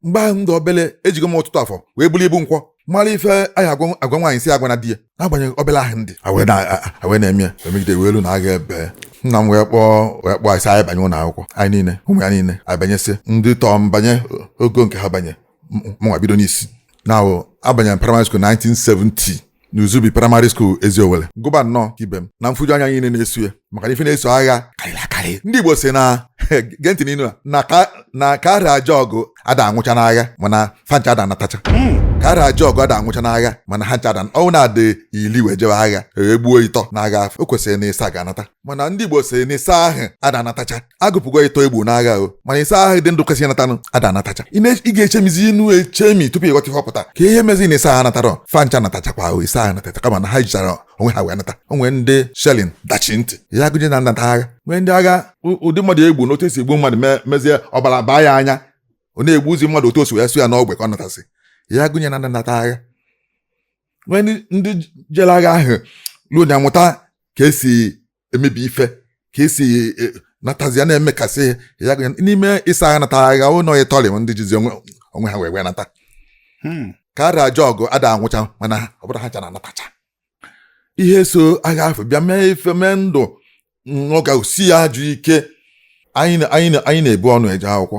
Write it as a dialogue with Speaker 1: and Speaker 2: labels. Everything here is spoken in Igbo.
Speaker 1: mgbe ahụ m dị obele ejigo m ọtụtụ afọ wee buru ibu nkwọ mara ife anyị agwa agwa nwaanyị si agwa na di ya n'agbanyeghị obele ahụ m dị a wee na- a- a- a wee na-eme ya emegide wee lue na agha ebie nna m wee kpọọ wee kpọọ sị anyị banye ụlọ akwụkwọ anyị niile ụmụ ya niile anyị banyesie ndị tọọ m banye ogo nke ha banye m- mụnwa bido n'isi na abanyere primary school 1970 n'Uzubi primary school Eziowele gụba nnọọ ka ibe m na mfuju anya niile na-eso ya maka na ife na-eso agha karịrị akarị ndị Igbo sị na gee ntị n'inu na ka a ra jee ọgụ ada anwụcha n'agha mana fa ncha ada anatacha hmm. ka a ra jee ọgụ ada anwụcha n'agha mana ha ncha ada ọ bụ na a dị ili wee jebe agha egbuo ịtọ n'agha o kwesịrị na ịsa ga-anata mana ndị Igbo sị na ịsa ahụ ada anatacha a gụpụgo ịtọ egbu n'agha o mana ịsa ahụ dị ndụ kwesị ịnatanụ ada anatacha ị ga-echemizi inu echemi tupu ị ghọta ihe ọ pụta ka ihe mezi na ịsa ahụ anatara fa ncha natachakwa ahụ ịsa ahụ anatacha kama na ha jichara onwe ha wee nata o nwe ndị shelling dachi ntị ya gụnye na nnata agha nwee ndị agha ụdị mmadụ egbu na otu esi egbu mmadụ mezie ọbara baa ya anya ọ na-egbuzi mmadụ otu o si wee sọ ya n'ogbe ka ọ natasị ya gụnye na nnata agha nwee ndị jere agha ahụ ruo na amụta ka esi emebi ife ka esi e, e, natazi ya na-emekasị ya n'ime ịsa ahụ nata agha o lurọ ịtọ ndị jizi onwe ha wee wee nata hmm. ka a ra jee ọgụ ada anwụcha mana ọ bụrọ ha ncha na-anatacha ihe so agha afụ bịa mee ife mee ndụ ọ ga-esi ya ajọ ike anyị na-ebu ọnụ eje akwụkwọ